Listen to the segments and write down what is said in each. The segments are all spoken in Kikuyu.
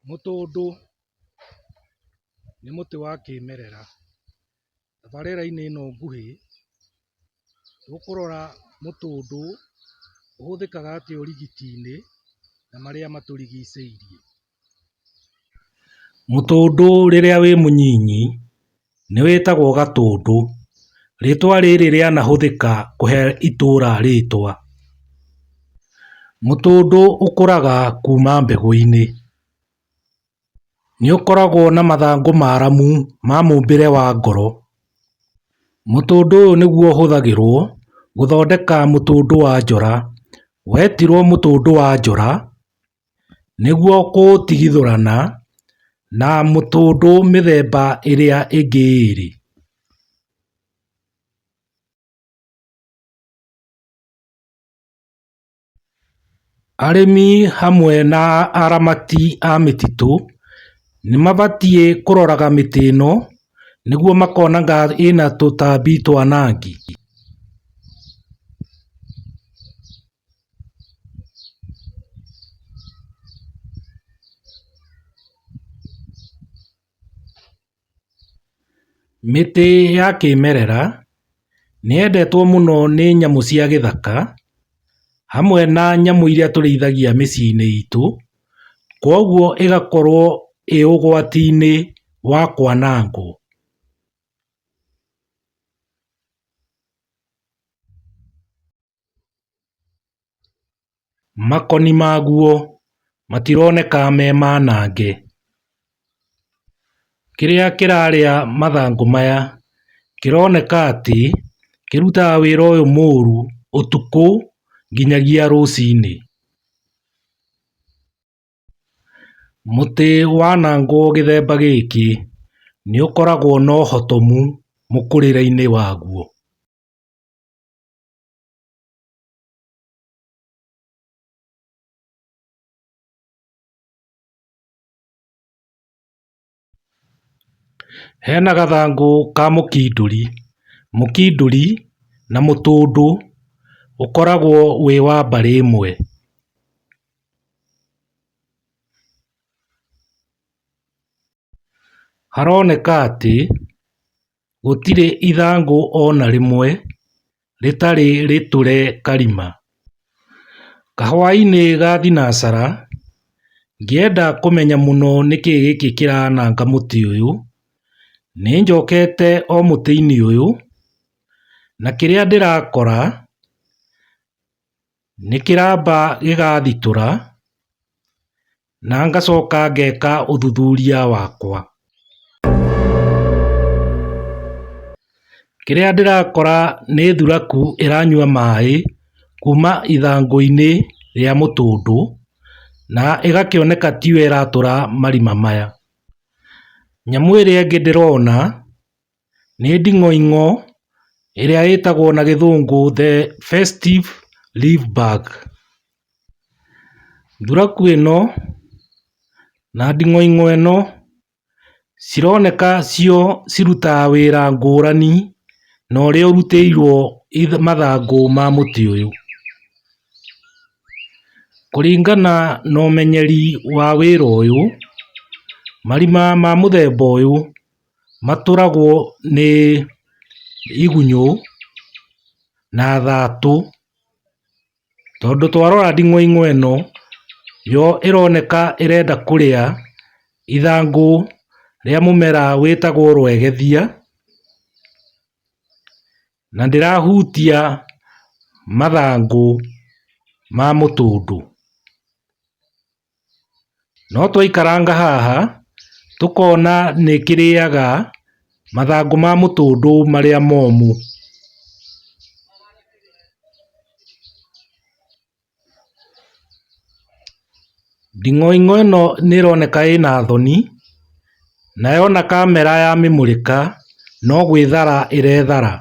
Mũtũndũ nĩ mũtĩ wa kĩmerera. Tabarĩra-inĩ ĩno nguhĩ tũkũrora mũtũndũ ũhũthĩkaga atĩa ũrigiti-inĩ na marĩa matũrigicĩirie. Mũtũndũ rĩrĩa wĩ mũnyinyi nĩwĩtagwo gatũndũ. Rĩtwa rĩrĩ rĩanahũthĩka kũhe itũra rĩtwa. Mũtũndũ ũkũraga kuma mbegũ-inĩ. Nĩũkoragwo na mathangũ maramu ma mũmbĩre wa ngoro. Mũtũndũ ũyũ nĩguo ũhũthagĩrwo gũthondeka mũtũndũ wa njora. Wetirwo mũtũndũ wa njora. nĩguo kũũtigithũrana na mũtũndũ mĩthemba ĩrĩa ĩngĩ ĩĩrĩ Arĩmi hamwe na aramati a mĩtitũ nĩmabatiĩ kũroraga mĩtĩ ĩno nĩguo makona kana ĩna tũtambi twanangi Mĩtĩ ya kĩmerera nĩyendetwo mũno nĩ nyamũ cia gĩthaka hamwe na nyamũ iria tũrĩithagia mĩciĩ-inĩ itũ, kwoguo ĩgakorwo ĩ ũgwati-inĩ wa kwanangwo. Makoni maguo matironeka me manange. Kĩrĩa kĩrarĩa mathangũ maya kĩroneka atĩ kĩrutaga wĩra ũyũ mũru ũtukũ nginyagia rũcinĩ. Mũtĩ wanangwo gĩthemba gĩkĩ nĩũkoragwo na ũhotomu mũkũrĩre-inĩ waguo. Hena gathangũ ka mũkindũri. Mũkindũri na mũtũndũ ũkoragwo wĩ wa mbarĩ ĩmwe. Haroneka atĩ Gũtirĩ ithangũ ona rĩmwe rĩtarĩ rĩtũre karima. Kahwainĩ ga thinacara ngĩenda kũmenya mũno nĩkĩĩ gĩkĩ kĩrananga mũtĩ ũyũ, nĩnjokete o mũtĩ-inĩ ũyũ na kĩrĩa ndĩrakora... Nĩ kĩramba gĩgathitũra na ngacoka ngeka ũthuthuria wakwa. Kĩrĩa ndĩrakora nĩ thuraku ĩranyua maĩ kuma ithangũ-inĩ rĩa mũtũndũ na ĩgakĩoneka tiyo ĩratũra marima maya. Nyamũ ĩrĩa ĩngĩ ndĩrona nĩ nding'oing'o ĩrĩa ĩtagwo na gĩthũngũ the festive leaf bug ,nduragu ĩno na nding'oing'o ĩno cironeka cio cirutaga wĩra ngũrani na ũrĩa ũrutĩirwo mathangũ ma mũtĩ ũyũ, kũringana na ũmenyeri wa wĩra ũyũ marima ma mũthemba ũyũ matũragwo nĩ igunyũ na thatũ, tondũ twarora nding'oing'o ĩno yo ĩroneka ĩrenda kũrĩa ithangũ rĩa mũmera wĩtagwo rwegethia, na ndĩrahutia mathangũ ma mũtũndũ. No twaikaranga haha tũkona nĩ kĩrĩaga mathangũ ma mũtũndũ marĩa momũ. Nding'oing'o ĩno nĩ ĩroneka ĩna thoni na yona kamera ya mĩmũrĩka no gwĩthara ĩrethara.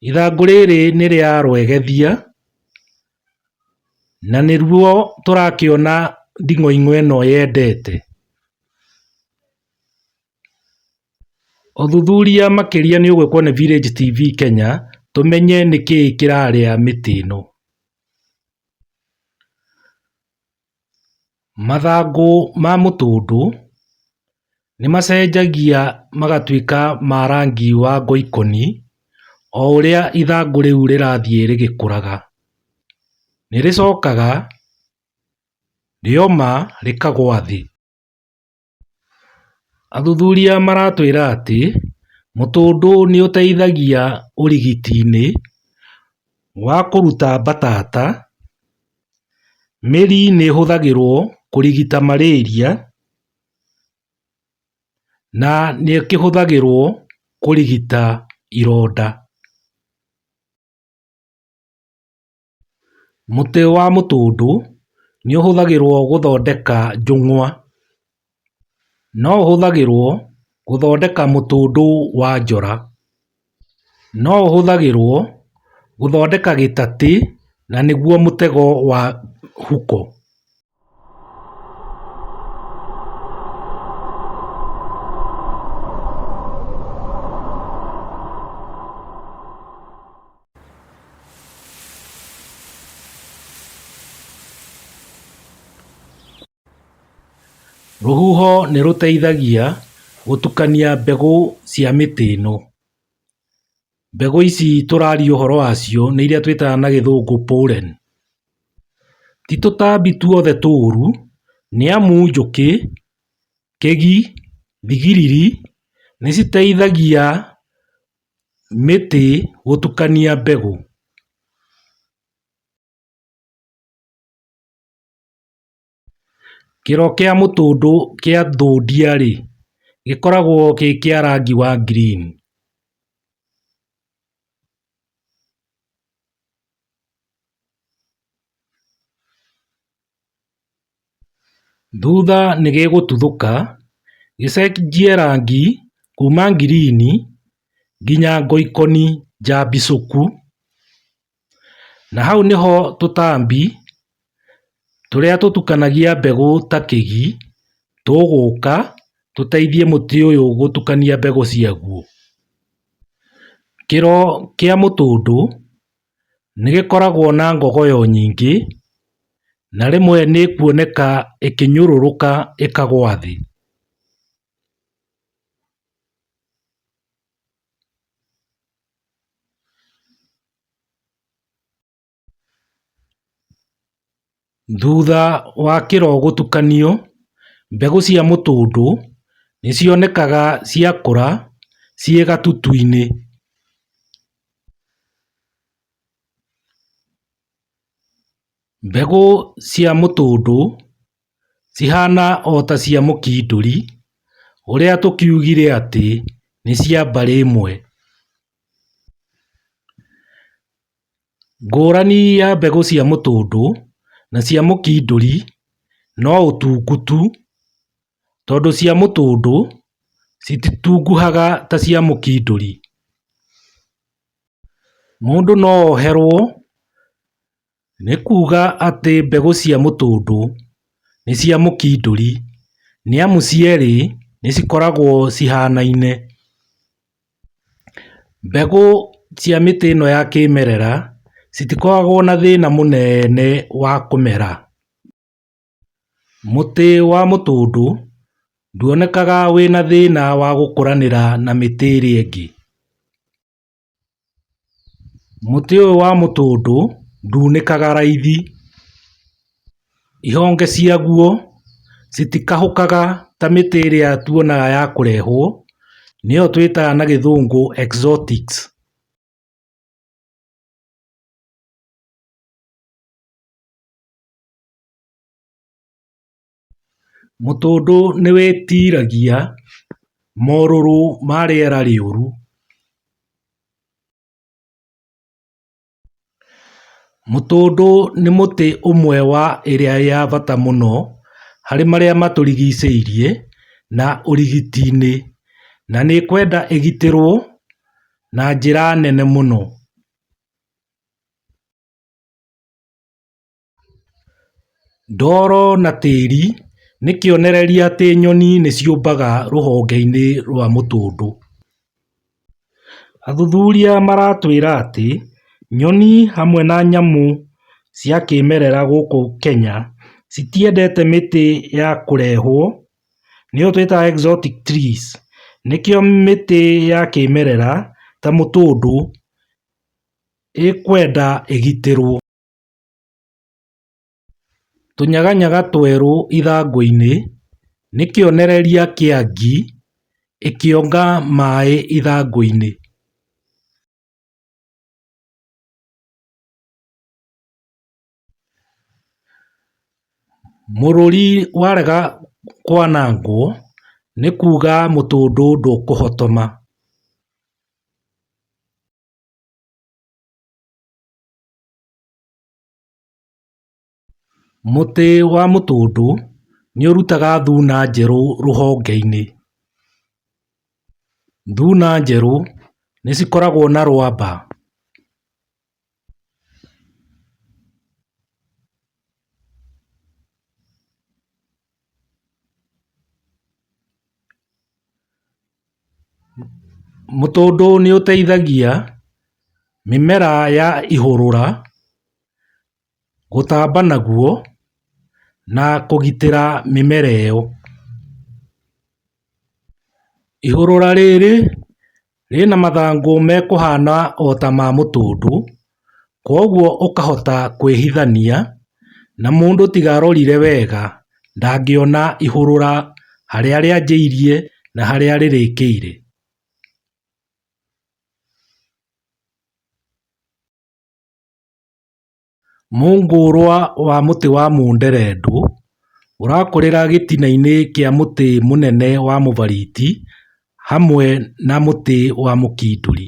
Ithangũ rĩrĩ nĩ rĩa rwegethia, na nĩruo tũrakĩona nding'oing'o ĩno yendete. Ũthuthuria makĩria nĩ ũgwĩkwo nĩ Village TV Kenya tũmenye nĩkĩĩ kĩrarĩa mĩtĩ ĩno. Mathangũ ma mũtũndũ nĩmacenjagia magatuĩka ma rangi wa ngoikoni o ũrĩa ithangũ rĩu rĩrathiĩ rĩgĩkũraga. Nĩrĩcokaga rĩoma rĩkagwa thĩ. Athuthuria maratwĩra atĩ mũtũndũ nĩũteithagia ũrigiti-inĩ wa kũruta mbatata mĩri nĩhũthagĩrwo kũrigita marĩria na nĩkĩhũthagĩrwo kũrigita ironda. Mũtĩ wa mũtũndũ nĩ ũhũthagĩrũo gũthondeka njũng'wa. No ũhũthagĩrũo gũthondeka mũtũndũ wa njora. No ũhũthagĩrũo gũthondeka gĩtatĩ na nĩguo mũtego wa huko. Rũhuho nĩ rũteithagia gũtukania mbegũ cia mĩtĩ ĩno. Mbegũ ici tũraria ũhoro wacio nĩ iria twĩtaga na gĩthũngũ pollen. Ti tũtambi tuothe tũũru nĩ amu njũkĩ, kĩgi, thigiriri nĩ citeithagia mĩtĩ gũtukania mbegũ. Kĩro kĩa mũtũndũ kĩa thondia-rĩ, gĩkoragwo gĩ kĩa rangi wa green. Thutha nĩ gĩgũtuthũka gĩcenjie rangi kuma green nginya ngoikoni njambicuku. Na hau nĩho tũtambi tũrĩa tũtukanagia mbegũ ta kĩgi tũgũka tũteithie mũtĩ ũyũ gũtukania mbegũ ciaguo. Kĩro kĩa mũtũndũ nĩgĩkoragwo na ngogoyo nyingĩ na rĩmwe nĩkuoneka ĩkĩnyũrũrũka ĩkagwa thĩ. Thutha wa kĩro gũtukanio, mbegũ cia mũtũndũ nĩcionekaga ciakũra ciĩ gatutu-inĩ Cihana o ta cia mũkindũri ũrĩa tũkiugire atĩ nĩ cia mbarĩ ĩmwe. Ngũrani ya mbegũ cia mũtũndũ na cia mũkindũri no ũtungutu tondũ cia mũtũndũ cititunguhaga ta cia mũkindũri. Mũndũ no oherwo Nĩ kuuga atĩ mbegũ cia mũtũndũ nĩ cia mũkindũri nĩamu cierĩ nĩ cikoragwo cihanaine. Mbegũ cia mĩtĩ ĩno ya kĩmerera citikoragwo na thĩna mũnene wa kũmera. Mũtĩ wa mũtũndũ nduonekaga wĩna thĩna wa gũkũranĩra na mĩtĩ ĩrĩa ĩngĩ. Mũtĩ ũyũ wa mũtũndũ ndunĩkaga raithi, ihonge ciaguo citikahũkaga ta mĩtĩ ĩrĩa tuonaga ya kũrehwo, nĩyo twĩtaga na gĩthũngũ exotic. Mũtũndũ nĩwĩtiragia morũrũ ma rĩera rĩũru. Mũtũndũ nĩ mũtĩ ũmwe wa ĩrĩa ya bata mũno harĩ marĩa matũrigicĩirie na ũrigiti-inĩ na nĩ ĩkwenda ĩgitĩrwo na njĩra nene mũno. Ndoro na tĩri nĩ kĩonereria atĩ nyoni nĩ ciũmbaga rũhonge-inĩ rwa mũtũndũ. Athuthuria maratwĩra atĩ nyoni hamwe na nyamũ cia kĩmerera gũkũ Kenya citiendete mĩtĩ ya kũrehwo, nĩyo twĩtaga exotic trees, nĩkĩo mĩtĩ ya kĩmerera ta mũtũndũ ĩkwenda ĩgitĩrwo. Tũnyaganyaga twerũ ithangũinĩ nĩ kĩonereria kĩa ngi ĩkĩonga maĩ ithangũinĩ. Mũrũri warega kwanangwo nĩ kuga mũtũndũ ndũkũhotoma. Mũtĩ wa mũtũndũ nĩ ũrutaga thuna njerũ rũhongeinĩ. Thuna njerũ nĩ cikoragwo na rwamba. Mũtũndũ nĩũteithagia mĩmera ya ihũrũra gũtamba naguo na kũgitĩra mĩmera ĩyo. Ihũrũra rĩrĩ rĩna mathangũ mekũhana ota ma mũtũndũ kwoguo ũkahota kwĩhithania na mũndũ tiga arorire wega ndangĩona ihũrũra harĩa rĩanjĩirie na harĩa rĩrĩkĩire. Mũngũrwa wa mũtĩ wa mũnderendũ ũrakũrĩra gĩtina-inĩ kĩa mũtĩ mũnene wa mũbariti hamwe na mũtĩ wa mũkindũri